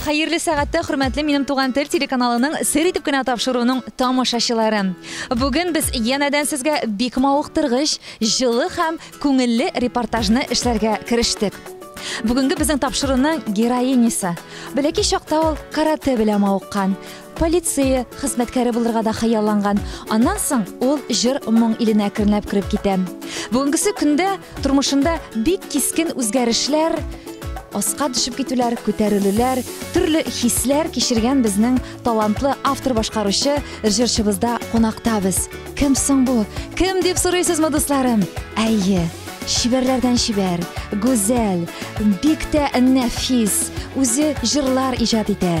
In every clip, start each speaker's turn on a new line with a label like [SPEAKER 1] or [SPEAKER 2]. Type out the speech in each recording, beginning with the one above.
[SPEAKER 1] Хәерле сәгатьтә хөрмәтле Минем туган тел телеканалының сер итеп кенә тапшыруының тамашачылары! Бүген без янәдән сезгә бик мавыктыргыч, җылы һәм күңелле репортажны эшләргә керештек. Бүгенге безнең тапшыруның героинясы, бәләкәй чакта ул каратэ белән мавыккан, Полиция хезмәткәре булырга да хыялланган. Аннан соң ул җыр моң иленә әкренләп кереп китә. Бүгенгесе көндә тормышында бик кискен үзгәрешләр, аска төшеп китүләр, күтәрелүләр, төрле хисләр кичергән безнең талантлы автор-башкаручы җырчыбызда кунакта без. Кем соң бу? Кем дип сорыйсызмы, дусларым? Әйе, чибәрләрдән чибәр, гүзәл, бик тә нәфис, үзе җырлар иҗат итә.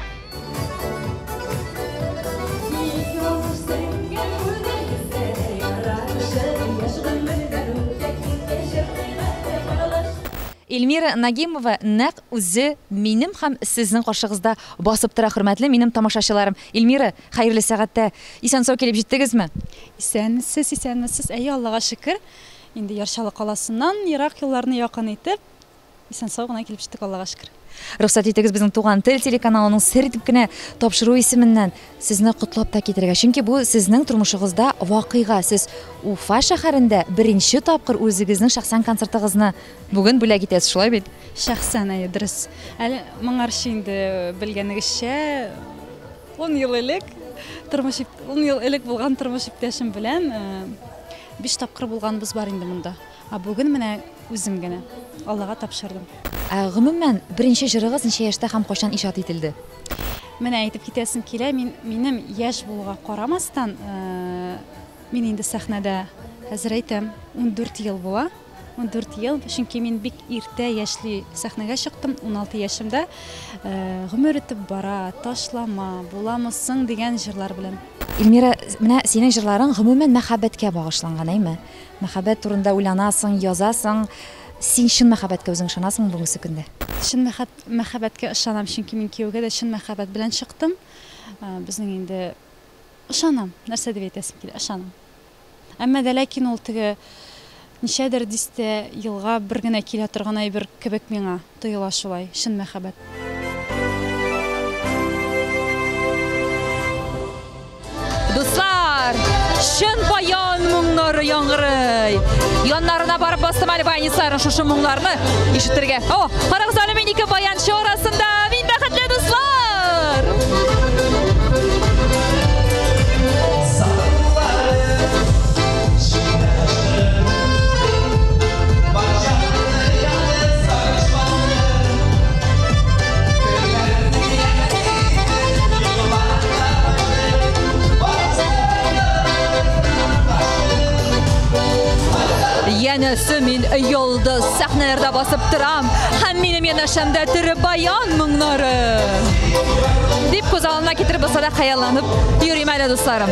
[SPEAKER 1] Эльмира Нагимова нәкъ үзе минем һәм сезнең каршыгызда басып тора, хөрмәтле минем тамашачыларым. Эльмира, хәерле сәгатьтә исән-сау килеп җиттегезме? Исән, сез
[SPEAKER 2] исәнмесез? Әйе, Аллага шөкер. Инде Яр Чаллы каласыннан ерак юлларны якын итеп, Исән сау гына килеп җиттек, Аллага шөкер. Рөхсәт итегез безнең
[SPEAKER 1] Туган тел телеканалының сер итеп кенә тапшыру исеменнән сезне котлап та китергә. Чөнки бу сезнең тормышыгызда вакыйга. Сез Уфа шәһәрендә беренче тапкыр үзегезнең шәхсән концертыгызны бүген бүләк итәсез, шулай бит? Шәхсән, әйе, дөрес.
[SPEAKER 2] Әле моңарчы инде белгәнегезчә, ун ел элек тормыш ун ел элек булган тормыш иптәшем белән биш тапкыр булганыбыз бар инде монда. Ә бүген менә үзем генә Аллага тапшырдым. Ә гомумән,
[SPEAKER 1] беренче җырыгыз ничә яшьтә һәм кайчан иҗат ителде? Менә әйтеп
[SPEAKER 2] китәсем килә, мин, минем яшь булуга карамастан, мин инде сәхнәдә, хәзер әйтәм, ундүрт ел була. Ундүрт ел, чөнки мин бик иртә яшьли сәхнәгә чыктым, уналты яшемдә. Гомер үтеп бара, Ташлама, Буламы соң дигән җырлар белән. Ильмира, менә
[SPEAKER 1] синең җырларың гомумән мәхәббәткә багышланган, әйме? Мәхәббәт турында уйланасың, язасың. Син чын мәхәббәткә үзең ышанасыңмы бүгенге көндә? Чын
[SPEAKER 2] мәхәббәткә ышанам, чөнки мин кияүгә дә чын мәхәббәт белән чыктым. Безнең инде ышанам, нәрсә дип әйтәсем килә, ышанам. Әмма дә ләкин ул теге ничәдер дистә елга бер генә килә торган әйбер кебек миңа. Тоела шулай, чын мәхәббәт.
[SPEAKER 1] Дуслар! Чын баян моңнары яңгырый! Яннарына барып бастым әле баянистларның шушы моңнарны ишетергә. О, карагыз әле мин ике баянчы арасында! Мин бәхетле дуслар! Янәсе мин йолдыз сәхнәләрдә басып торам һәм минем янәшәмдә тере баян моңнары. Дип күз алдына китереп булса да хыялланып йөрим әле дусларым.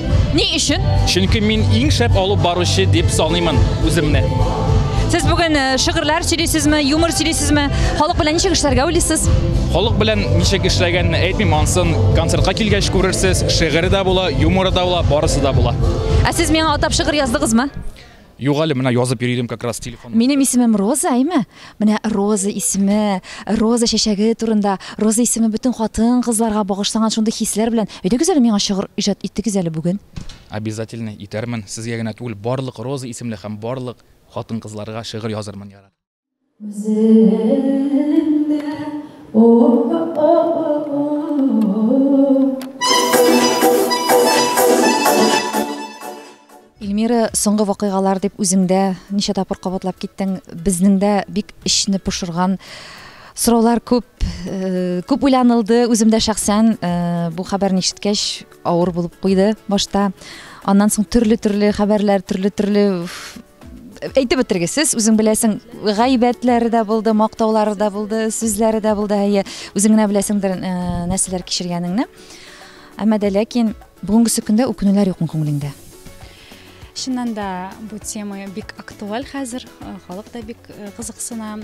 [SPEAKER 3] Ни өчен?
[SPEAKER 1] Чөнки мин иң
[SPEAKER 3] шәп алып баручы дип саныймын үземне. Сез
[SPEAKER 1] бүген э, шигырьләр сөйлисезме, юмор сөйлисезме? Халык белән ничек эшләргә уйлыйсыз? Халык белән
[SPEAKER 3] ничек эшләгәнне әйтмим, ансын концертка килгәч күрерсез. Шигырь дә була, юмор да була, барысы да була. Ә сез миңа атап
[SPEAKER 1] шигырь яздыгызмы? Юк әле, менә
[SPEAKER 3] язып йөри идем как раз телефон. Минем исемем Роза,
[SPEAKER 1] әйме? Менә Роза исеме, Роза чәчәге турында, Роза исеме бөтен хатын-кызларга багышланган шундый хисләр белән. Өйдәгез әле миңа шыгыр иҗат итегез әле бүген. Обязательно
[SPEAKER 3] итәрмен. Сезгә генә түгел, барлык Роза исемле һәм барлык хатын-кызларга шыгыр язырмын, ярар.
[SPEAKER 1] Эльмира, соңгы вакыйгалар дип үзеңдә ничә тапкыр кабатлап киттең. Безнең дә бик эчне пошырган сораулар күп, э, күп уйланылды. Үзем дә шәхсән э, бу хәбәрне ишеткәч авыр булып куйды башта. Аннан соң төрле-төрле хәбәрләр, төрле-төрле әйтеп бетерегез сез үзең беләсең гайбәтләре дә булды мактаулары да булды сүзләре дә булды әйе үзең генә беләсеңдер э, нәрсәләр кичергәнеңне әмма дә ләкин бүгенгесе көндә үкенүләр юкмы күңелеңдә
[SPEAKER 2] чыннан да бу тема бик актуаль хәзер э, халык та бик э, кызыксына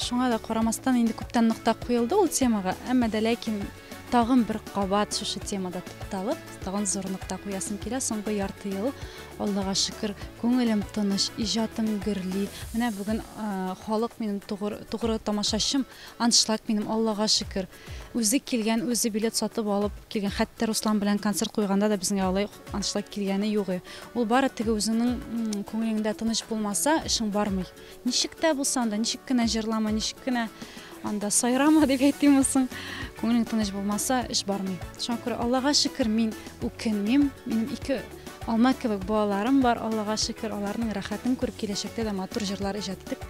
[SPEAKER 2] шуңа да карамастан инде күптән нокта куелды ул темага әмма дә ләкин Тагын бер кабат шушы темада тукталып, тагын зур нокта куясым килә. Соңгы ярты ел, Аллага шөкер, күңелем тыныч, иҗатым гөрли. Менә бүген халык минем тугры, тугры тамашачым, аншлаг минем, Аллага шөкер. Үзе килгән, үзе билет сатып алып килгән. Хәтта Руслан белән концерт куйганда да безгә алай аншлаг килгәне юк. Ул бары теге үзеңнең күңелеңдә тыныч булмаса, эшең бармый. Ничек тә булса анда, ничек кенә җырлама, ничек кенә анда сайрама дип әйтимме соң, күңелең тыныч булмаса, эш бармый. Шуңа күрә Аллага шөкер, мин үкенмим. Минем ике алма кебек балаларым бар, Аллага шөкер, аларның рәхәтен күреп, киләчәктә дә матур җырлар иҗат итеп,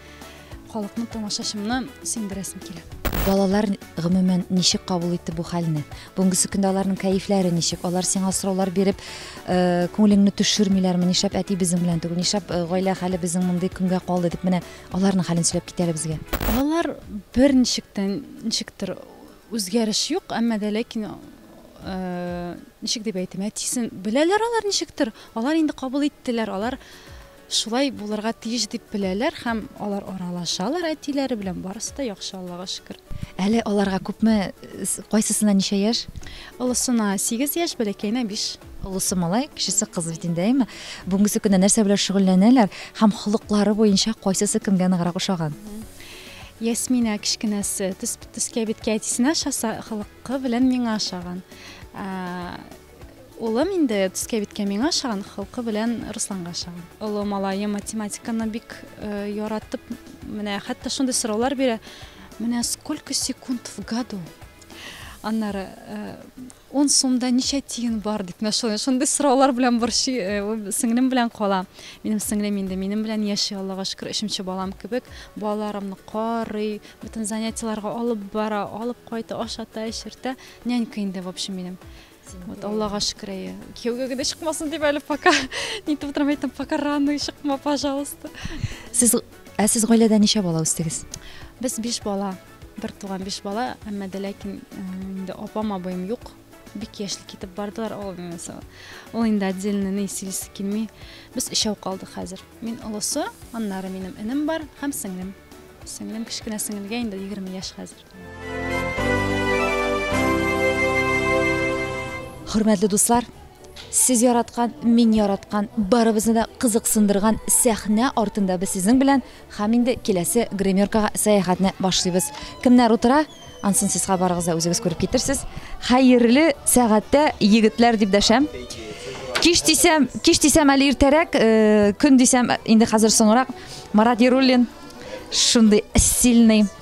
[SPEAKER 2] халыкны, тамашачымны сөендерәсем килә. Балалар
[SPEAKER 1] гомумән ничек кабул итте бу хәлне? Бүгенге сөкендә аларның кәефләре ничек? Алар сиңа сораулар биреп, э, күңелеңне төшермиләрме? Нишләп әти безнең белән түгел? Нишләп э, гаилә хәле безнең мондый көнгә калды дип менә аларның хәлен сөйләп китәле безгә. Алар
[SPEAKER 2] бер ничектән ничектер үзгәреш юк, әмма дә ләкин э, ничек дип әйтим, әтисен беләләр алар ничектер. Алар инде кабул иттеләр, алар Шулай булырга тиеш дип беләләр һәм алар аралашалар әтиләре белән, барысы да яхшы Аллага шөкер. Әле аларга
[SPEAKER 1] күпме, кайсысына ничә яшь? Олысына
[SPEAKER 2] сигез яшь, бәләкәенә биш. Олысы малай,
[SPEAKER 1] кечесе кыз бит инде, әйме? Бүгенгесе көндә нәрсә белән шөгыльләнәләр һәм холыклары буенча кайсысы кемгә ныграк ошаган?
[SPEAKER 2] Ясминә кечкенәсе төс төскә биткә әтисенә ошаса, холыкы белән миңа ошаган. Улым инде төскә-биткә миңа ошаган, холкы белән Русланга ошаган. Олы малаем математиканы бик э, яратып, менә хәтта шундый сораулар бирә. Менә сколько секунд в году? Аннары э, он сумда ничә тиен бар дип менә шундый шундый сораулар белән борчый э, ул сеңлем белән кала минем сеңлем инде минем белән яши аллага шөкер өченче балам кебек балаларымны карый бөтен занятиеларга алып бара алып кайта ашата эчертә Нянька инде, в общем, минем. Вот, Аллага шөкер, әйе. Кияүгә генә чыкмасын дип әле пока. Нитеп утырам әйтәм, пока рано чыкма, пожалуйста. Сез
[SPEAKER 1] ә сез гаиләдә ничә бала үстегез? Без биш бала,
[SPEAKER 2] бер туган биш бала, әмма дә ләкин э, инде апам, абыем юк. Бик яшьли китеп бардылар, ул инде со- ул инде отдельно ни сөйлисе килми. Без өчәү калдык хәзер. Мин олысы, аннары минем энем бар һәм сеңлем. Сеңлем кечкенә сеңелгә инде 20 яшь хәзер.
[SPEAKER 1] Хөрмәтле дуслар, сез яраткан, мин яраткан, барыбызны да кызыксындырган сәхнә артында без сезнең белән һәм инде киләсе гримеркага сәяхәтне башлыйбыз. Кемнәр утыра? Ансын сезгә барыгыз да үзегез күреп китерсез. Хәерле сәгатьтә егетләр дип дәшәм. Кич дисәм, кич дисәм әле иртәрәк, э, көн дисәм инде хәзер соңрак. Марат Яруллин шундый сильный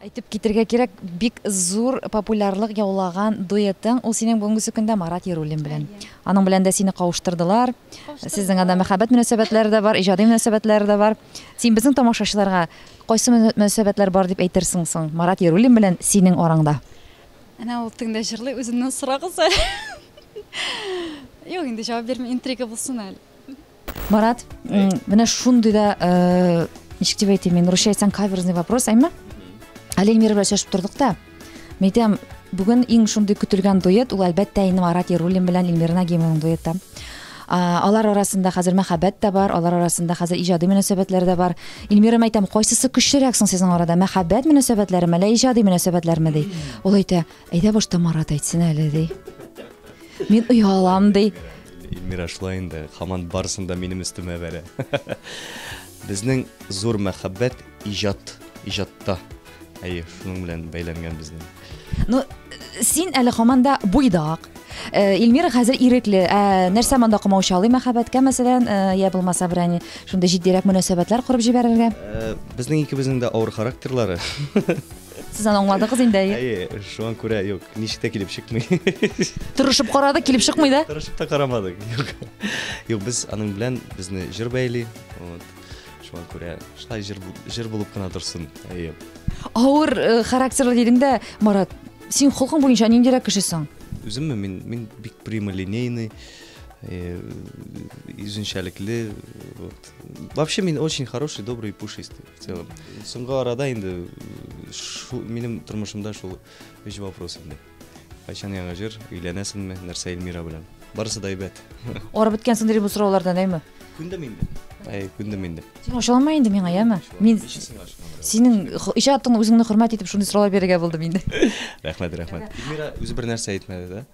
[SPEAKER 1] Әйтеп китергә кирәк, бик зур популярлык яулаган дуэтың ул синең бүгенге көндә Марат Яруллин белән. Аның белән дә сине кавыштырдылар. Сезнең анда мәхәббәт мөнәсәбәтләре дә бар, иҗади мөнәсәбәтләре дә бар. Син безнең тамашачыларга кайсы мөнәсәбәтләр бар дип әйтерсең соң Марат Яруллин белән синең араңда? Әнә ул
[SPEAKER 2] тегендә җырлый, үзеннән сорагыз әле. Юк, инде җавап бирмим, интрига булсын әле. марат
[SPEAKER 1] менә шундый да э, ничек дип әйтим мин русча әйтсәң каверзный вопрос әйме әле эльмира белән сөйләшеп тордык та мен әйтәм бүген иң шундый көтелгән дуэт ул әлбәттә инде марат яруллин белән эльмира нагимованың дуэты алар арасында хәзер мәхәббәт тә бар алар арасында хәзер иҗади мөнәсәбәтләр дә бар эльмира әйтәм кайсысы көчлерәк соң сезнең арада мәхәббәт мөнәсәбәтләреме әллә иҗади мөнәсәбәтләрме ди ул әйтә әйдә башта марат әйтсен әле ди Мин оялам, ди. Эльмира шулай
[SPEAKER 4] инде, хаман барысын да минем өстемә бәрә. Безнең зур мәхәббәт иҗат, иҗатта. Әйе, шуның белән бәйләнгән безнең. Ну,
[SPEAKER 1] син әле хаманда буйдак. Э, Эльмира хәзер ирекле. Ә нәрсә монда комау чалый мәхәббәткә, мәсәлән, э, я булмаса берәни шундый җитдирәк мөнәсәбәтләр корып җибәрергә? Э, Безнең икебезнең
[SPEAKER 4] дә авыр характерлары. Сез
[SPEAKER 1] аны аңладыгыз инде, әйе. Әйе, шуңа күрә
[SPEAKER 4] юк, ничек тә килеп чыкмый. Тырышып
[SPEAKER 1] карады, килеп чыкмый да. Тырышып та карамадык. Юк.
[SPEAKER 4] Юк, без аның белән безне җыр бәйли. Вот. Шуңа күрә шулай җыр бу- җыр булып кына торсын. Әйе. Авыр
[SPEAKER 1] э, характерлы дидең дә, Марат, син холкың буенча ниндирәк кешесең? Үземме мин мин
[SPEAKER 4] бик прямолинейный, э, үзенчәлекле. Вот. Вообще мин очень хороший, добрый и пушистый. В целом. Соңгы арада инде шу, минем тормышымда шул өч вопрос инде. Кайчан яңа җыр, өйләнәсеңме, нәрсә Эльмира белән? Барысы да әйбәт. Арып беткәнсең
[SPEAKER 1] дирим бу сораулардан, әйме? Күндем инде.
[SPEAKER 4] Әй, күндем инде. Син ошалама инде миңа,
[SPEAKER 1] яме? Мин синең иҗатыңны үзеңне хөрмәт итеп шундый сораулар бирергә булдым инде. Рәхмәт, рәхмәт.
[SPEAKER 4] Эльмира үзе бер нәрсә әйтмәде, да?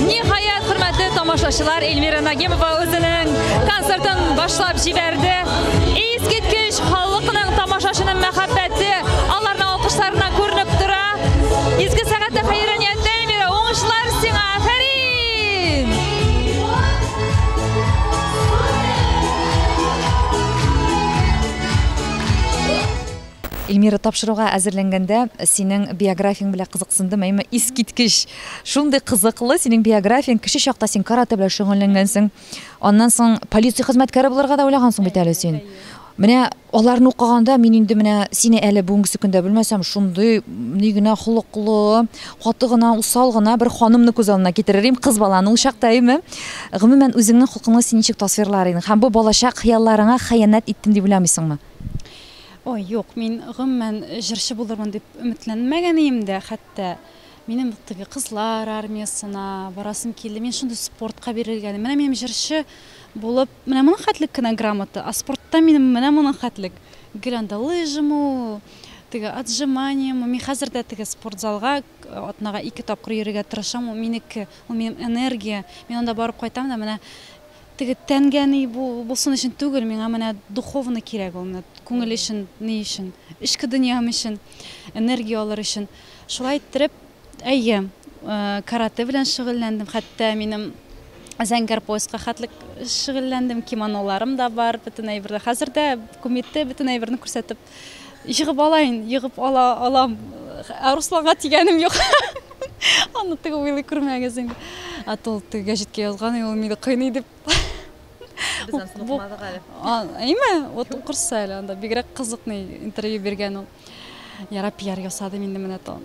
[SPEAKER 1] Ниһаять, хөрмәтле тамашачылар, Эльмира Нагимова үзенең концертын башлап җибәрде. Искиткеч халыкның тамашачының мәхәббәте аларның алкышларына күренеп тора. Изге сәгатьтә хәйран Эльмира, тапшыруга әзерләнгәндә синең биографияң белән кызыксындым, әйме искиткеч. Шундый кызыклы синең биографияң, кеше чакта син каратэ белән шөгыльләнгәнсең. Аннан соң полиция хезмәткәре булырга да уйлагансың бит әле син. Менә Аларны укыганда мин инде менә сине әле бүгенгесе көндә белмәсәм, шундый ни генә холыклы, каты гына, усал гына бер ханымны күз алдына китерер идем, кыз баланы ул чакта, әйеме? Гомумән, үзеңнең холкыңны син ничек тасвирлар идең? Һәм бу балачак хыялларыңа хыянәт иттем дип уйламыйсыңмы? Ой,
[SPEAKER 2] юк, мин гомумән җырчы булырмын дип өметләнмәгән идем дә хәтта. Минем теге кызлар армиясенә барасым килде. Мин шундый спортка бирелгән. Менә минем җырчы Булып, менә моның хәтлек кенә грамота, а спортта минем менә моның хәтлек. Гел анда лыжамы ул, теге отжиманиемы. Мин хәзер дә теге спортзалга атнага ике тапкыр йөрергә тырышам, ул минеке, ул минем энергия. Мин анда барып кайтам да, менә теге тәнгә ни булсын өчен түгел, миңа менә духовно кирәк ул, менә күңел өчен, ни өчен, эчке дөньям өчен энергия алыр өчен. Шулай иттереп, Әйе, э, карате белән шөгыльләндем. Хәтта минем зәңгәр пояска хәтлек шөгыльләндем. Кимоноларым да бар, бөтен әйберләр. Хәзер дә кумитте бөтен әйберне күрсәтеп егып алайын, егып ала алам. Ә Русланга тигәнем юк. Аны теге уйлый күрмәгез инде. Ә тол теге гәҗиткә язган, и, ул мине кыйный дип. Без аны Бу- укымадык әле. А, Әйме, вот укырсыз әле анда. Бигрәк кызыкный интервью биргән ул. Яра пиар ясадым инде менә тон.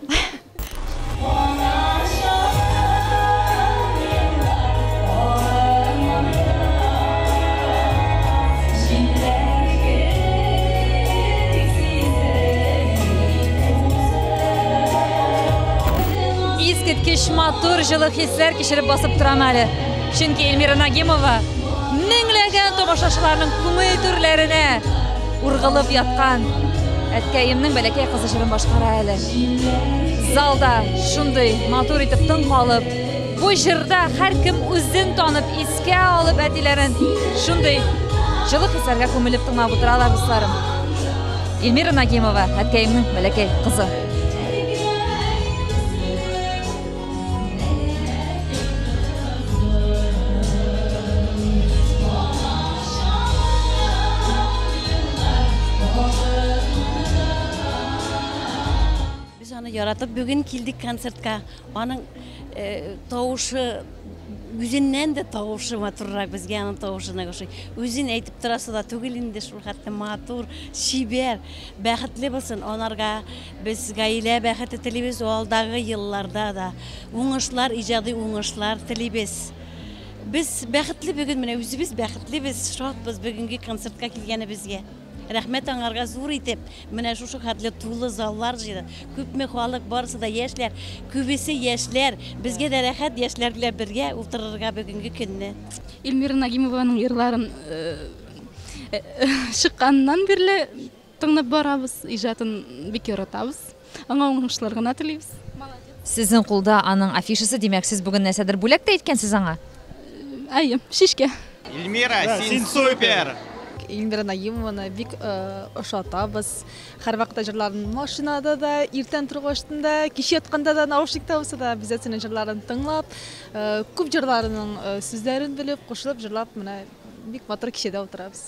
[SPEAKER 2] Искиткеч матур, җылы хисләр кичереп басып торам әле. Чөнки Эльмира Нагимова меңләгән тамашачыларның күңел түрләренә Ургылып яткан әткәемнең бәләкәй кызы җырын башкара әле. Залда шундый матур итеп тын калып, бу җырда һәркем үзен танып, искә алып әтиләрен шундый җылы хисләргә күмелеп тыңлап утыралар дусларым. Эльмира Нагимова, әткәемнең бәләкәй кызы.
[SPEAKER 5] Без аны яратып бүген килдек концертка. Аның тавышы үзеннән дә тавышы матуррак, безгә аның тавышы нык ошый. Үзен әйтеп торасы да түгел инде, шулхәтле матур, чибәр. Бәхетле булсын, анарга Без гаилә бәхете телибез, алдагы елларда да уңышлар, иҗади уңышлар телибез. Без бәхетле бүген, менә үзебез бәхетлебез, шатбыз бүгенге концертка килгәнебезгә. Рәхмәт аңарга зур итеп. Менә шушы хәтле тулы заллар җыйды. Күпме халык, барысы да яшьләр, күбесе яшьләр. Безгә дә рәхәт яшьләр белән бергә утырырга бүгенге көнне. Эльмира
[SPEAKER 6] Нагимованың йырларын чыкканнан бирле Тыңнап барабыз, иҗатын бик яратабыз. Аңа уңышлар гына телибез. Сезнең
[SPEAKER 1] кулда аның афишасы, димәк, сез бүген нәрсәдер бүләк тә иткәнсез аңа? Әйе,
[SPEAKER 6] шишкә. Эльмира,
[SPEAKER 7] син супер! Эльмира
[SPEAKER 8] Наимованы бик ошатабыз. Һәрвакытта җырларын машинада да, иртән торгачтын да, кич ятканда да, наушникта булса да, обязательно җырларын тыңлап, күп җырларының сүзләрен белеп, кушылып җырлап, менә бик матур кичәдә утырабыз.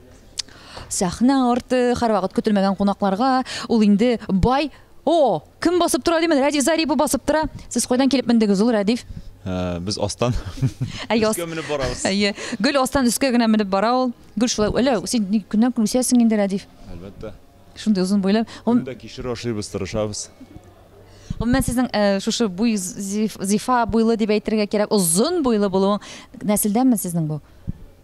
[SPEAKER 1] Сәхнә арты һәрвакыт көтелмәгән кунакларга ул инде бай О, кем басып тора димән, Рәдиф Зарипов басып тора. Сез кайдан килеп мендегез ул, Рәдиф? Ә, без астан.
[SPEAKER 4] Әйе, өскә менеп барабыз. Әйе, гөл астан
[SPEAKER 1] өскә генә менеп бара ул. Гөл шулай, әле син көннән көн үсәсең инде, Рәдиф. Әлбәттә.
[SPEAKER 4] Шундый озын буйлы.
[SPEAKER 1] Ул да кишер ашыйбыз,
[SPEAKER 4] тырышабыз.
[SPEAKER 1] Гомумән сезнең э, шушы буй зифа буйлы дип әйтергә кирәк, озын буйлы булуың нәселдәнме сезнең бу?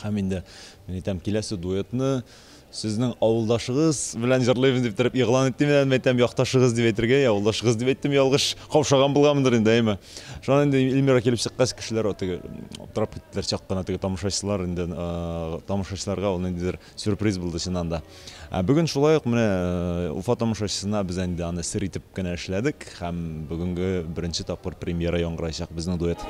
[SPEAKER 4] Һәм инде мин әйтәм, киләсе дуэтны сезнең авылдашыгыз белән җырлыйбыз дип торып игълан иттем әле, әйтәм, якташыгыз дип әйтергә, я авылдашыгыз дип әйттем, ялгыш каушаган булганмындыр инде, әйме. Шуннан инде Эльмира килеп чыккач, кешеләр теге аптырап киттеләр чак кына теге тамашачылар инде, тамашачыларга ул ниндидер Сюрприз булды чыннан да. Ә бүген шулай ук менә э, Уфа тамашачысына без инде аны сер итеп кенә эшләдек һәм бүгенге беренче тапкыр премьера яңгырайчак безнең дуэт.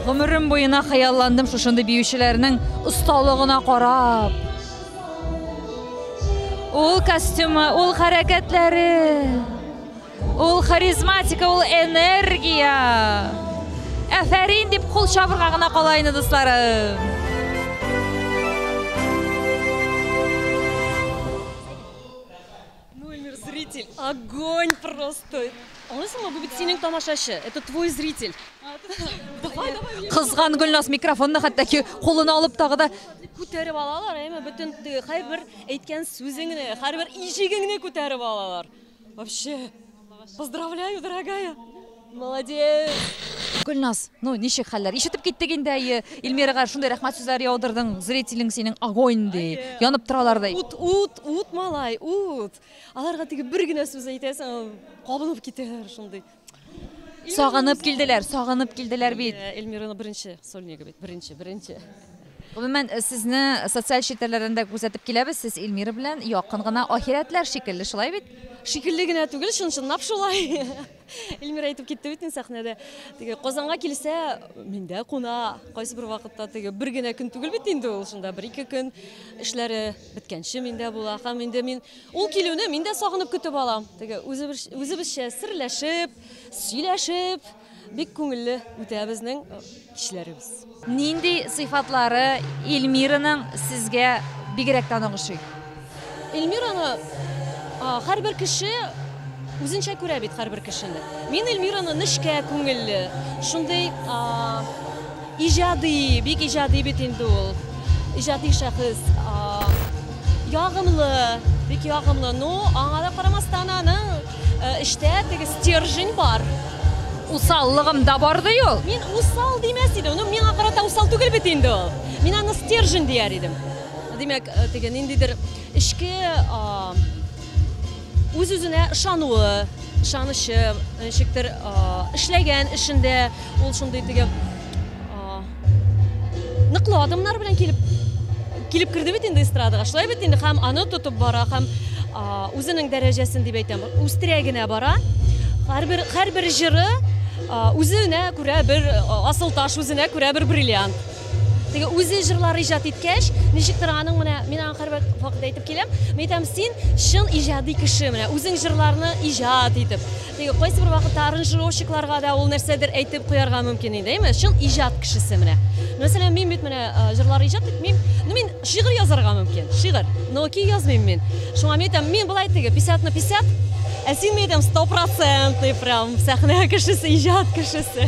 [SPEAKER 1] Гомерем буена хыялландым шушындый биючеләрнең осталыгына карап. Ул костюмы, ул хәрәкәтләре. Ул харизматика, ул энергия. Әфәрин дип кул чабырга гына кала инде, дусларым.
[SPEAKER 9] Мой мир зритель, огонь просто. Аңлыйсыңмы, бу бит синең тамашачы. Это твой зритель.
[SPEAKER 1] Кызган Гөлназ микрофонны хәтта ки кулына алып тагы да күтәреп алалар,
[SPEAKER 9] әйме бөтен һәрбер әйткән сүзеңне, һәрбер ишегеңне күтәреп алалар. Вообще, поздравляю, дорогая! Молодец! Гөлназ,
[SPEAKER 1] ну ничек хәлләр? Ишетеп киттек инде әйе. Илмирага шундый рәхмәт сүзләре яудырдың. Зрителең синең огонь ди. Янып торалар ди. Ут, ут, ут, малай,
[SPEAKER 9] ут. Аларга теге бер генә сүз әйтәсең, кабынып китәләр шундый. Сагынып
[SPEAKER 1] килделәр, сагынып килделәр бит. Э, Эльмираның беренче
[SPEAKER 9] сольнигы бит, беренче, беренче. Гомумән,
[SPEAKER 1] э, сезне социаль челтәрләрдән дә күзәтеп киләбез. Сез Эльмира белән якын гына ахирәтләр шикелле, шулай бит? Шикелле генә түгел,
[SPEAKER 9] чын-чынлап шулай. Эльмира әйтеп китте бит сәхнәдә. Теге Казанга килсә, миндә куна. Кайсы бер вакытта теге бер генә көн түгел бит инде ул, шунда бер-ике көн эшләре беткәнче миндә була. Һәм инде мин Ул килүне мин дә сагынып көтеп алам. Теге үзебезчә серләшеп, сөйләшеп, бик күңелле үтә безнең кичләребез. Нинди
[SPEAKER 1] сыйфатлары Эльмираның сезгә бигрәк тә ныгышый? Эльмираны
[SPEAKER 9] һәрбер кеше үзенчә күрә бит һәрбер кешене. Мин Эльмираны нечкә күңелле, шундый Иҗади, бик иҗади бит инде ул. Иҗади шәхес. Ягымлы, бик ягымлы. Ну, аңа да карамастан аның эштә теге стержень бар. Усаллыгым
[SPEAKER 1] да бар ди ул. Мин усал димәс
[SPEAKER 9] идем. Ну, миңа карата усал түгел бит инде ул. Мин аны стержень дияр идем. Димәк, теге ниндидер эчке Үз-үзенә ышануы, ышанычы, ничектер, эшләгән эшендә ул шундый теге ныклы адымнар белән килеп килеп керде бит инде эстрадага. Шулай бит инде һәм аны тотып бара һәм үзенең дәрәҗәсен дип әйтәм, үстерә генә бара. Һәрбер һәрбер җыры үзенә күрә бер асыл таш, үзенә күрә бер бриллиант. Теге үзе җырлар иҗат иткәч, ничектер аның менә мин аңа һәрвакыт вакыт әйтеп киләм. Мин әйтәм, син чын иҗади кеше, менә үзең җырларны иҗат итеп. Теге кайсы бер вакытта аранжировщикларга да ул нәрсәдер әйтеп куярга мөмкин иде, әйме? Чын иҗат кешесе менә. Мәсәлән, мин бит менә җырлар иҗат итмим. Ну мин шигырь язарга мөмкин, шигырь. Но ки язмыйм мин. Шуңа мин әйтәм, мин болай теге 50 на 50, ә син мин әйтәм 100% прям сәхнә кешесе, иҗат кешесе.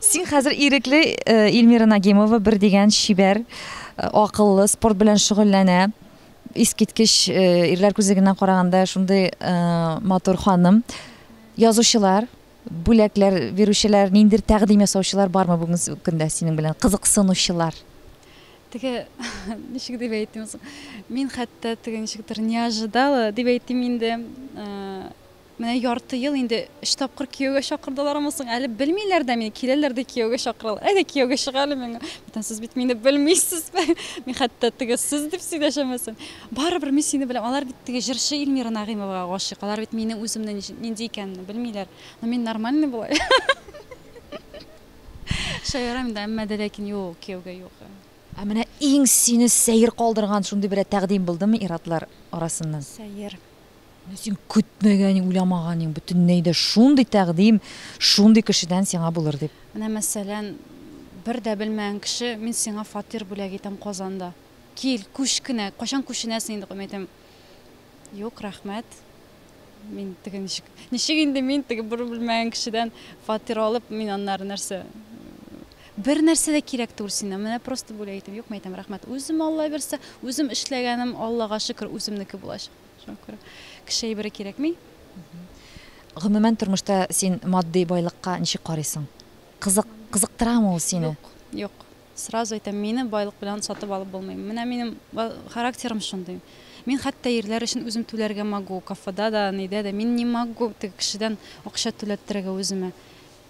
[SPEAKER 1] Син хәзер ирекле Ильмира Нагимова бер дигән чибәр, акыллы, спорт белән шөгыльләнә. Искиткеч ирләр күзлегеннән караганда шундый матур ханым. Язучылар, бүләкләр бирүчеләр, ниндер тәкъдим ясаучылар бармы бүгенге көндә синең белән? Кызыксынучылар. Теге
[SPEAKER 2] ничек дип әйтим соң? Мин хәтта теге ничектер неожидала дип әйтим инде. Менә ярты ел инде өч тапкыр кияүгә чакырдылармы соң әле, белмиләр дә мине, киләләр дә кияүгә чакыралар. Әйдә кияүгә чык әле миңа. Бүтән сез бит мине белмисез. Мин хәтта теге сез дип сөйләшәмәсен. Барыбер мин сине беләм. Алар бит теге җырчы Ильмира Нагыймовага гашыйк. Алар бит минем үземне нинди икәнемне белмиләр. Но мин нормальный болай. Шаярам инде, әмма дә ләкин юк, кияүгә юк. Ә менә
[SPEAKER 1] иң сине сәер калдырган шундый берәр тәкъдим булдымы ир-атлар арасыннан? Сәер.
[SPEAKER 2] Менә син
[SPEAKER 1] көтмәгәнең, уйламаганың, бөтенләй дә шундый тәкъдим шундый кешедән сиңа булыр дип. Менә мәсәлән,
[SPEAKER 2] бер дә белмәгән кеше, мин сиңа фатир бүләк итәм Казанда. Кил, күч кенә, кайчан күченәсең инде, мин әйтәм, юк, рәхмәт. Мин теге ничек, ничек инде мин теге бер белмәгән кешедән фатир алып, мин аннары нәрсә, Бер нәрсә дә кирәк түгел синнән, менә просто бүләк итәм. Юкмы, әйтәм, рәхмәт, үзем, Алла бирса, үзем эшләгәнем, Аллага шөкер, үземнеке булачак. Шуңа күрә кеше әйбере кирәкми.
[SPEAKER 1] Гомумән тормышта син матди байлыкка ничек карыйсың? Кызык, кызыктырамы ул сине? Юк, юк.
[SPEAKER 2] Сразу әйтәм, мине байлык белән сатып алып булмый. Менә минем характерым шундый. Мин хәтта ирләр өчен үзем түләргә могу, кафеда да, нидә дә. Мин не могу теге кешедән акча түләттерергә үземә.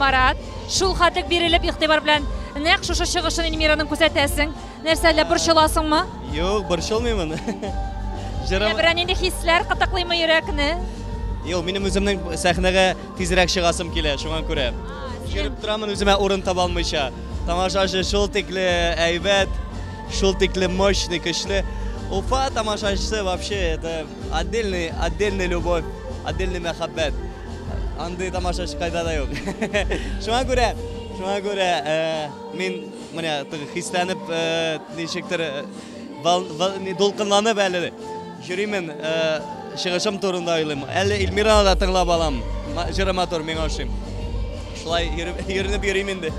[SPEAKER 1] Марат, шулкадек бирелеп игътибар белән нәкъ шушы чыгышын Эльмираның күзәтәсең. Нәрсә әллә борчыласыңмы? Юк, борчылмыймын. Җырым... Берәр нинди хисләр кытыклыймы йөрәкне? Юк, минем
[SPEAKER 4] үземнең сәхнәгә тизрәк чыгасым килә, шуңа күрә. Йөреп торамын үземә урын таба алмыйча. Тамашачы шул тикле әйбәт, шул тикле мощный, көчле. Уфа тамашачысы вообще это отдельный, отдельный любовь, отдельный мәхәббәт. Андый тамашачы кайда да юк. Шуңа күрә, шуңа күрә э, мин менә хисләнеп э, ничектер э, Дулкынланып әле йөримен, чыгышым турында уйлыйм. Әле Ильмираны да тыңлап алам. Җыры матур, миңа ошый. Шулай йөренеп йөрим инде.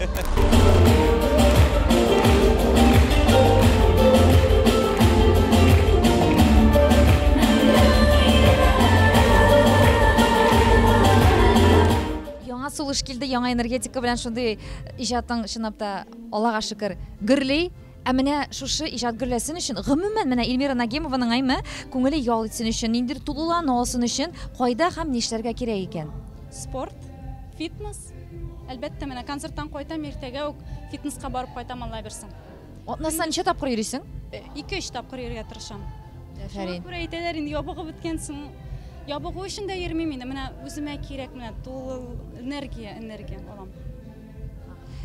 [SPEAKER 1] Яңа сулыш килде, яңа энергетика белән шундый иҗатың чынлап та, Аллага шөкер, гөрли. Ә менә шушы иҗат гөрләсен өчен, гомумән, менә Ильмира Нагимованың әйме, күңеле ял итсен өчен, ниндидер тулылану алсын өчен кайда һәм нишләргә кирәк икән? Спорт,
[SPEAKER 2] фитнес. Әлбәттә, менә концерттан кайтам, иртәгә үк фитнеска барып кайтам, Алла бирсен. Атнасына ничә
[SPEAKER 1] тапкыр йөрисең? Ике-өч тапкыр
[SPEAKER 2] йөрергә тырышам. Шуңа күрә
[SPEAKER 1] әйтәләр инде, ябыгып
[SPEAKER 2] беткәнсең. Ябыгу өчен дә йөрмим инде, менә үземә кирәк, менә тулы энергия, энергия алам.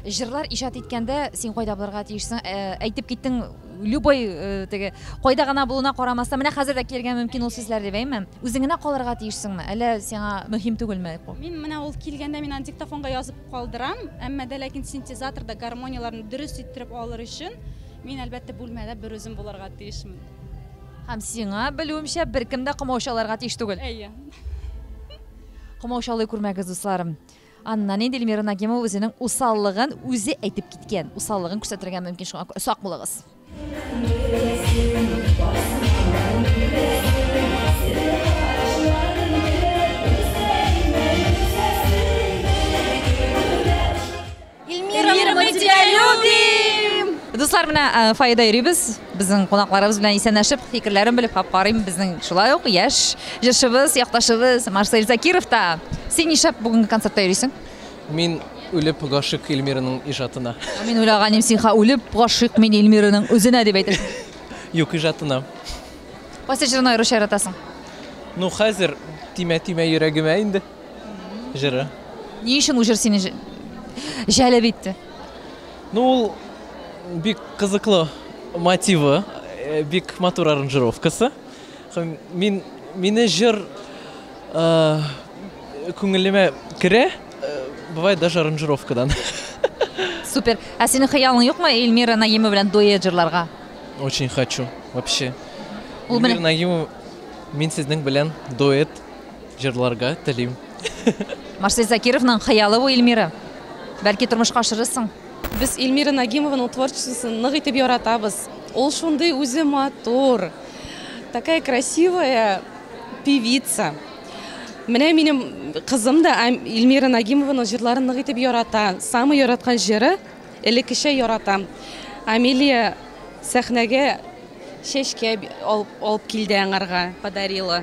[SPEAKER 1] Җырлар иҗат иткәндә
[SPEAKER 2] син
[SPEAKER 1] кайда булырга тиешсең? Э, әйтеп киттең, любой э, теге кайда гына булуына карамастан, менә хәзер дә килергә мөмкин ул сүзләр дип әйме? Үзең генә калырга тиешсеңме? Әллә сиңа мөһим түгелме? Мин менә ул килгәндә
[SPEAKER 2] мин аны диктофонга язып калдырам, әмма дә ләкин синтезаторда гармонияләрне дөрес иттереп алыр өчен мин әлбәттә бүлмәдә бер үзем булырга тиешмен. Һәм
[SPEAKER 1] сиңа белүемчә беркем дә комаучаларга тиеш түгел. Әйе.
[SPEAKER 2] Комаучалый
[SPEAKER 1] күрмәгез, дусларым. Аннан инде Эльмира Нагимова үзенең усаллыгын үзе әйтеп киткән. Усаллыгын күрсәтергә мөмкин шуңа сак булыгыз.
[SPEAKER 9] Эльмира, Эльмира, мы тебя любим! Дуслар, менә э,
[SPEAKER 1] Фаида йөрибез. Безнең кунакларыбыз белән исәнләшеп, фикерләрен белеп хап карыйм. Безнең шулай ук яшь җырчыбыз, якташыбыз Марсель Закиров та. Син нишләп бүгенге концертта йөрисең? Мин
[SPEAKER 10] үлеп гашык Эльмираның ижатына. Ә Мин уйлаганым син
[SPEAKER 1] ха үлеп гашыйк мин Эльмираның үзенә дип әйтәсең. Юк, ижатына.
[SPEAKER 10] Кайсы
[SPEAKER 1] җырын аеруча яратасың? Ну,
[SPEAKER 10] хәзер тимә-тимә йөрәгемә инде. җыры. Ни өчен бу
[SPEAKER 1] җыр сине җәлеп итте? Ну,
[SPEAKER 10] ул бик кызыклы мотивы, э, бик матур аранжировкасы. Мин мине җыр э, күңелемә керә, э, бывает даже аранжировкадан.
[SPEAKER 1] Супер. Ә синең хыялың юкмы Эльмира Наимова белән дуэт җырларга? Очень хочу.
[SPEAKER 10] Вообще. Эльмира
[SPEAKER 1] Наимова
[SPEAKER 10] мин сезнең белән дуэт Җырларга телим. Марсель
[SPEAKER 1] Закировның хыялы бу Ильмира. Бәлки тормышка ашырырсың. Без Ильмира
[SPEAKER 6] Нагимованың творчествосын нык итеп яратабыз. Ул шундый үзе матур, такая красивая певица. Менә минем кызым да Ильмира Нагимованың җырларын нык итеп ярата. Самый яраткан җыры элеккечә яратам. Амелия сәхнәгә чәчкә алып килде аңарга, подарила.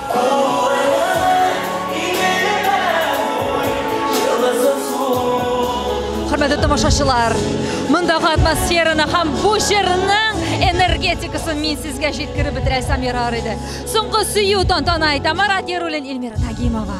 [SPEAKER 1] Хөрмәтле тамашачылар, мондагы атмосфераны һәм бу җырның энергетикасын мин сезгә җиткереп бетерә Самира Арыйды. Соңгы сөю тантана итә Марат Яруллин, Эльмира Нагимова.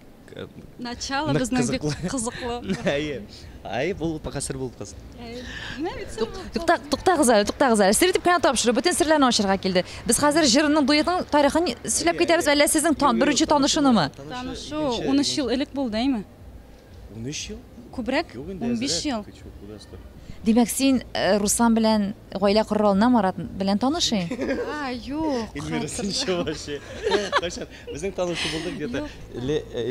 [SPEAKER 4] начало
[SPEAKER 2] безнең бик кызыклы әйе
[SPEAKER 4] әйе бул пока сер булып калсын туктагыз
[SPEAKER 1] әле туктагыз әле сер итеп кенә тапшыру бөтен серләрне ачырга килде без хәзер җырның дуэтның тарихын сөйләп китәбез әллә сезнең беренче танышынымы танышу ун
[SPEAKER 2] өч ел элек булды әйме ун өч
[SPEAKER 4] ел күбрәк ун
[SPEAKER 2] биш ел димәк
[SPEAKER 1] син э, руслан белән Гаилә корыр алдыннан Марат белән танышыйм. А, юк.
[SPEAKER 2] Эльмира, син чын
[SPEAKER 4] вообще. Кайчан? Безнең танышу булдык где-то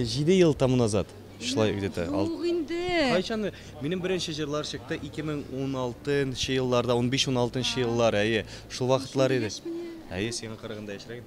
[SPEAKER 4] җиде ел тому назад. Шулай где-то. Юк инде.
[SPEAKER 2] Кайчан? Минем
[SPEAKER 4] беренче җырлар чыкты 2016 нчы елларда, унбиш-уналтынчы еллар, әйе. Шул вакытлар иде. Әйе, сиңа караганда яшьрәк.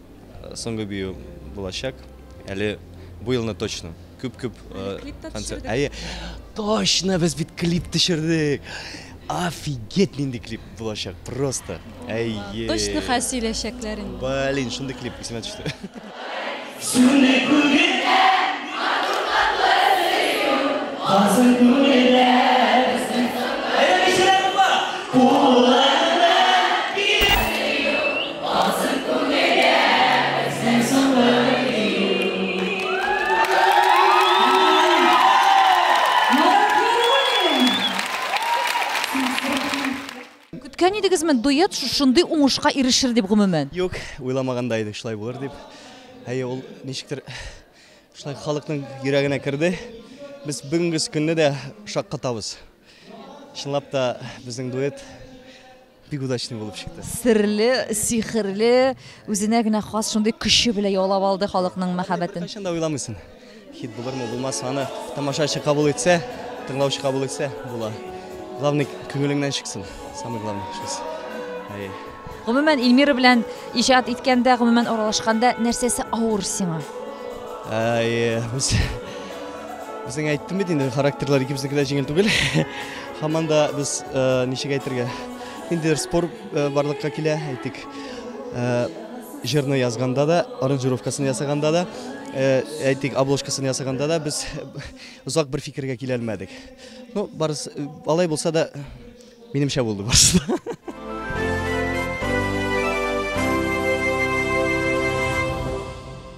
[SPEAKER 4] Соңгы бию булачак. Әле бу елны точно. Күп күп концерт. Әйе. Точно без бит клип төшердек. Офигеть нинди клип булачак. Просто. Әйе. Точно
[SPEAKER 2] хәл сөйләшәкләр инде. Блин, шундый клип исемә
[SPEAKER 4] төште. Сүне күгеткә, матур татлы сөю. Хазын күңелдә безнең саклар. Әйе, кешеләр бар. Куллар
[SPEAKER 1] Алтын күлмәгә үзең салдың Көткән идегезме дуэт шушындый уңышка ирешер дип гомумән? Юк, уйламаган
[SPEAKER 4] да идек шулай булыр дип. Әйе, ул ничектер шулай халыкның йөрәгенә керде. Без бүгенге көнне дә шаккатабыз. Чынлап та безнең дуэт Бик удачный булып чыкты. Серле,
[SPEAKER 1] сихерле, үзенә генә хас шундый көче белән яулап алды халыкның мәхәббәтен. Кайчан да уйламыйсың.
[SPEAKER 4] Хит булырмы, булмасмы, аны тамашачы кабул итсә, тыңлаучы кабул итсә, була. Главный күңелеңнән чыксын. Самый главный шусы. Әйе.
[SPEAKER 1] Гомумән Эльмира белән иҗат иткәндә, гомумән аралашканда нәрсәсе авыр сиңа? Әйе, без
[SPEAKER 4] Үзең әйттем бит инде, характерлар икебезнеке дә җиңел түгел. Һаман да без ничек әйтергә, ниндидер спор барлыкка килә, әйтик, җырны язганда да, аранжировкасын ясаганда да, әйтик, обложкасын ясаганда да без озак бер фикергә килә алмадык. Ну, барысы алай булса да, минемчә булды барысы.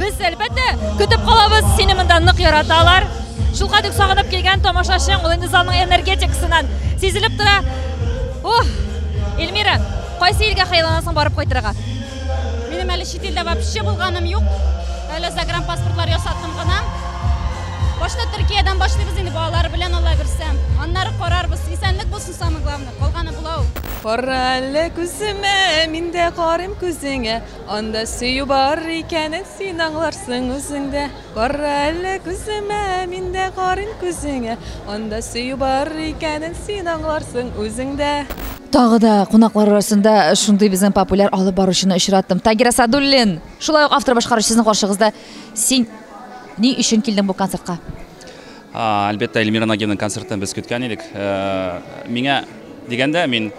[SPEAKER 1] Без әлбәттә көтеп калабыз, сине монда нык яраталар. Шул кадәр сагынып килгән тамашачың, ул инде залның энергетикасыннан сизелеп тора. Ух! Эльмира, кайсы илгә хыялланасың барып кайтырга? Минем
[SPEAKER 2] әле чит илдә вообще булганым юк. Әле загранпаспортлар ясаттым гына. Башта Төркиядән башлыйбыз инде балалар белән Алла бирсә. Аннары карарбыз. Исәнлек булсын самое главное. Калганы була ул. Кара әле
[SPEAKER 11] күземә, мин дә карыйм күзеңә. Анда сөю бар икәнен син аңларсың үзең дә. Карра әле күземә, мин дә карыйм күзеңә. Анда сөю бар икәнен син аңларсың үзең дә. Тагы да
[SPEAKER 1] кунаклар арасында шундый безнең популяр алып баручыны очраттым. Тагир Асадуллин. Шулай ук автор башкаручы сезнең каршыгызда. Син ни өчен килдең бу концертка?
[SPEAKER 3] Әлбәттә, Эльмира Нагиевның концертын без көткән идек. Миңа дигәндә, мин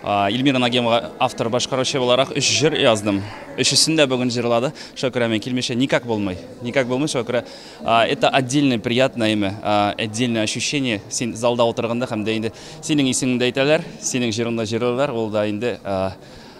[SPEAKER 3] Эльмира Нагиевага автор башкаручы буларак өч җыр яздым. Өчесен дә бүген җырлады. Шуңа күрә мин килмичә никак булмый. Никак булмый, шуңа күрә это отдельное приятное имя, отдельное ощущение. Син залда утырганда һәм дә инде синең исемеңдә әйтәләр, синең җырыңны җырлыйлар, ул да инде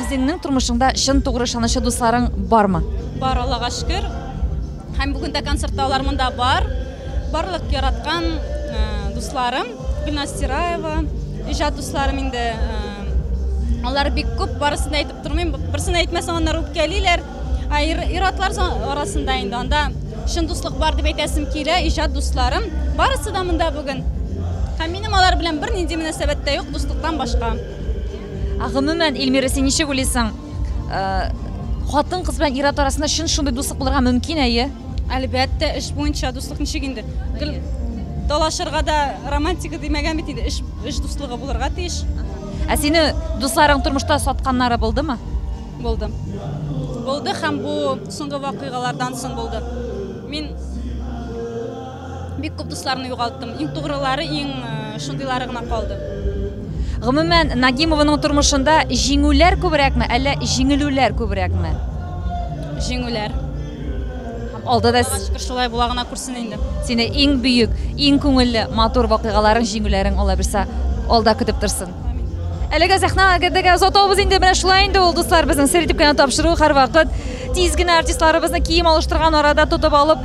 [SPEAKER 1] Үзеңнең тормышыңда чын тугры ышанычы дусларың бармы? Бар, Аллага шөкер.
[SPEAKER 2] Һәм бүген дә концертта алар монда бар. Барлык яраткан э, дусларым, Гөлназ Сираева, иҗат дусларым инде э, алар бик күп, барысын да әйтеп тормыйм. Берсен әйтмәсәң, аннары үпкәлиләр. Ә ир-атлар арасында инде анда чын дуслык бар дип әйтәсем килә, иҗат дусларым. Барысы да монда бүген. Һәм минем алар белән бернинди мөнәсәбәттә юк, дуслыктан башка. Ә
[SPEAKER 1] гомумән, Эльмира, син ничек уйлыйсың? Хатын-кыз белән ир-ат арасында чын шундый дуслык булырга мөмкин, әйе? Әлбәттә, эш
[SPEAKER 2] буенча дуслык ничек инде? Гел талашырга да романтика димәгән бит инде, эш эш дуслыгы булырга тиеш. Ә сине
[SPEAKER 1] дусларың тормышта сатканнары булдымы? Булды.
[SPEAKER 2] Булды һәм бу соңгы вакыйгалардан соң булды. Мин Бик күп дусларны югалттым. Иң тугрылары, иң э, шундыйлары гына калды. Гомумән,
[SPEAKER 1] Нагимованың тормышында җиңүләр күбрәкме, әллә җиңелүләр күбрәкме?
[SPEAKER 2] Җиңүләр.
[SPEAKER 1] Һәм алда да Аллага шөкер, шулай була гына күрсен
[SPEAKER 2] инде. сине иң бөек,
[SPEAKER 1] иң күңелле, матур вакыйгаларың, җиңүләрең Алла бирса алда көтеп торсын. Әлеге сәхнә әгердәге озатабыз инде менә шулай инде ул дуслар безнең сер итеп кенә тапшыру һәрвакыт тиз генә артистларыбызны кием алыштырган арада тотып алып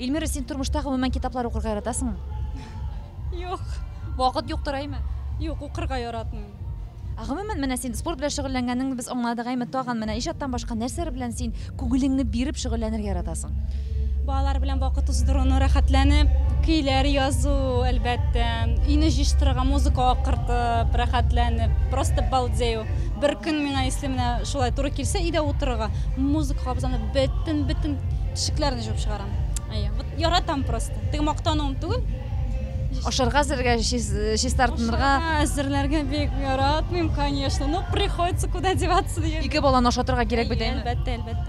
[SPEAKER 1] Ильмира, син тормышта гомумән китаплар укырга яратасыңмы?
[SPEAKER 2] Юк. Вакыт
[SPEAKER 1] юктыр әйме? Юк, укырга
[SPEAKER 2] яратмыйм. Ә гомумән
[SPEAKER 1] менә син спорт белән шөгыльләнгәнеңне без аңладык әйме? Тагын менә иҗаттан башка нәрсәләр белән син күңелеңне биреп шөгыльләнергә яратасың? Балалар белән
[SPEAKER 2] вакыт уздыруны, рәхәтләнеп, көйләр язу, әлбәттә, өйне җыештырырга, музыка акыртып, рәхәтләнеп, просто балдею. Бер көн миңа исле менә шулай туры килсә, өйдә утырырга, музыка кабызам, Бөтен бөтен тишекләрне җуып чыгарам. Әйе, вот яратам просто. Теге мактануым түгел. Ашарга
[SPEAKER 1] әзергә, чистартынырга. Ашарга әзерләргә
[SPEAKER 2] бик яратмыйм, конечно. Ну, приходится куда деваться дигән. Ике баланы ашатырга кирәк
[SPEAKER 1] бит, әйеме? Әлбәттә, әлбәттә.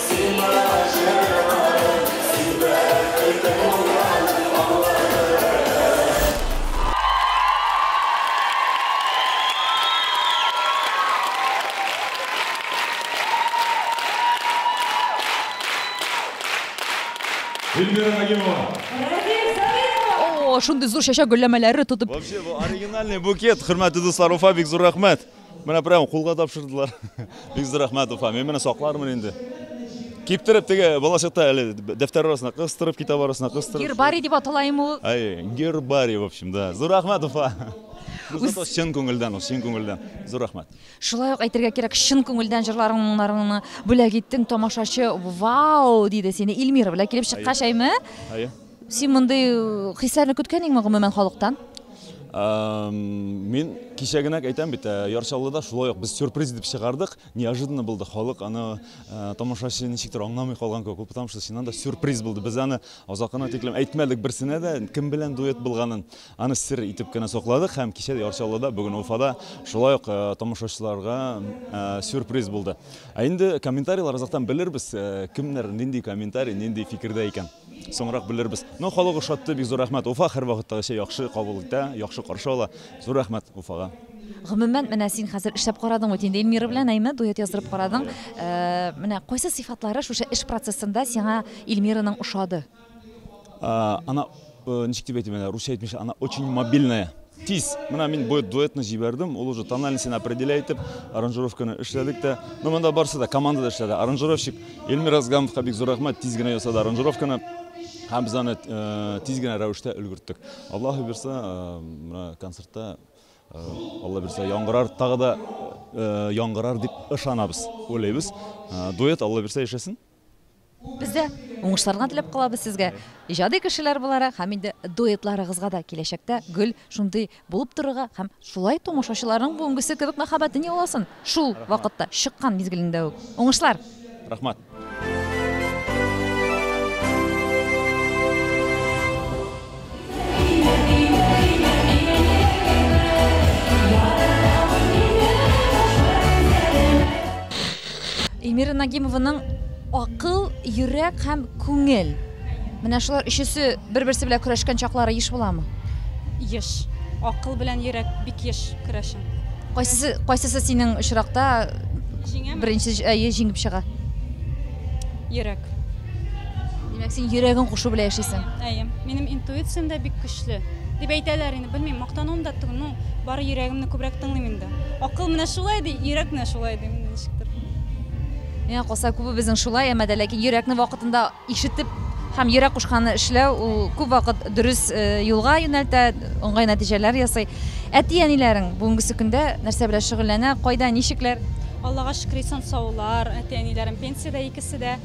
[SPEAKER 12] Эльвира Нагимова.
[SPEAKER 1] О, шундый зур чәчәк гөлләмәләре тотып. Вообще, бу оригинальный
[SPEAKER 12] букет. Хөрмәтле дуслар, Уфа бик зур рәхмәт. Менә прямо кулга тапшырдылар. Бик зур рәхмәт, Уфа. Мин менә саклармын инде. Киптереп теге балачакта әле дәфтәр арасына кыстырып, китап арасына кыстырып. Гербарий дип атала име ул?
[SPEAKER 1] Әй, гербарий, в
[SPEAKER 12] общем, да. Зур рәхмәт, Уфа. Зато чын күңелдән ул, чын күңелдән. Зур рәхмәт. Шулай ук әйтергә
[SPEAKER 1] кирәк, чын күңелдән җырларың моңнарыңны бүләк иттең, тамашачы вау диде сине Ильмира белән килеп чыккач, әйме? Әйе. Син мондый хисләрне көткәнеңме гомумән халыктан?
[SPEAKER 12] Мин кичә генә әйтәм бит, э, Ярчалыда шулай ук без сюрприз дип чыгардык. Неожиданно булды. Халык аны э, тамашачы ничектер аңламый калган кебек булды, потому что чыннан да сюрприз булды. Без аны озакына тиклем әйтмәдек берсенә дә, кем белән дуэт булганын. Аны сер итеп кенә сакладык һәм кичә Ярчалыда, бүген Уфада шулай ук э, тамашачыларга сюрприз булды. Ә инде комментарийлар азактан белербез, кемнәр нинди комментарий, нинди фикердә икән. Соңрак белербез. Но халык ошатты, бик зур рәхмәт. Уфа һәрвакыттагыча яхшы кабул итә, яхшы каршы ала. Зур рәхмәт Уфага. Гомумән, менә
[SPEAKER 1] син хәзер эшләп карадың бит инде Эльмира белән, әйме, дуэт яздырып карадың. Э, менә кайсы сыйфатлары шушы эш процессында сиңа Эльмираның ошады? Э,
[SPEAKER 12] она, э, ничек дип әйтим әле, русча әйтмичә, она очень мобильная. Тиз, менә мин бу дуэтны җибәрдем, ул уже тональностен определя итеп, аранжировканы эшләдек тә. Ну, монда барысы да командада эшләде. Аранжировщик Эльмир Азгамовка бик зур рәхмәт, тиз генә ясады аранжировканы. Һәм без аны э, тиз генә рәвештә өлгерттек. Аллаһ бирсә, э, менә концертта э, Алла бирсә, яңгырар тагы да яңгырар дип ышанабыз, уйлыйбыз.
[SPEAKER 1] Дуэт
[SPEAKER 12] Алла бирсә яшәсен. Без дә
[SPEAKER 1] уңышларга теләп калабыз сезгә, иҗади кешеләр буларак һәм инде дуэтларыгызга да киләчәктә гел шундый булып торырга һәм шулай тамашачыларның бүгенгесе кебек мәхәббәтен яуласын, шул вакытта, чыккан мизгелендә үк. Уңышлар! Рәхмәт! Эльмира Нагимованың акыл, йөрәк һәм күңел. Менә шулар өчесе бер-берсе белән көрәшкән чаклары еш буламы? Еш.
[SPEAKER 2] Акыл белән йөрәк бик еш көрәшә. Кайсысы кайсысы
[SPEAKER 1] синең очракта беренче әйе җиңеп чыга?
[SPEAKER 2] Йөрәк.
[SPEAKER 1] Димәк, син йөрәгең кушу белән яшисең. Әйе. Минем интуициям
[SPEAKER 2] дә бик көчле. Дип әйтәләр инде, белмим, мактануым да түгел, ну, бары йөрәгемне күбрәк тыңлыйм инде. Акыл менә шулай ди, йөрәк менә шулай ди, менә ничектер.
[SPEAKER 1] Миңа калса, күбебезнең шулай, әмма дә ләкин йөрәкне вакытында ишетеп һәм йөрәк кушканны эшләү ул күп вакыт дөрес э, юлга юнәлтә, уңай нәтиҗәләр ясый. Әти-әниләрең бүгенгесе көндә нәрсә белән шөгыльләнә, кайда, ничекләр? Аллага шөкер, исән
[SPEAKER 2] саулар, әти-әниләрем пенсиядә икесе дә.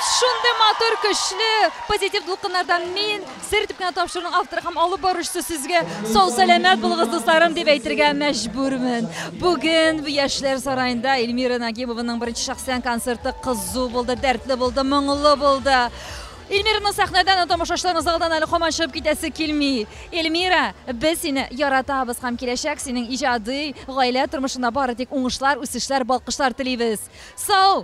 [SPEAKER 1] Шундый матур, көчле, позитив дулкыннардан мин, Сер дип кенә тапшыруның авторы һәм алып баручысы сезгә сау-сәламәт булыгыз, дусларым, дип әйтергә мәҗбүрмен. Бүген Яшьләр сараенда Эльмира Нагимованың беренче шәхсән концерты кызу булды, дәртле булды, моңлы булды. Эльмираны сәхнәдән һәм тамашачыларны залдан әле һаман чыгып китәсе килми. Эльмира, без сине яратабыз һәм киләчәк синең иҗади, гаилә тормышында бары тик уңышлар, үсешләр, балкышлар телибез. Сау!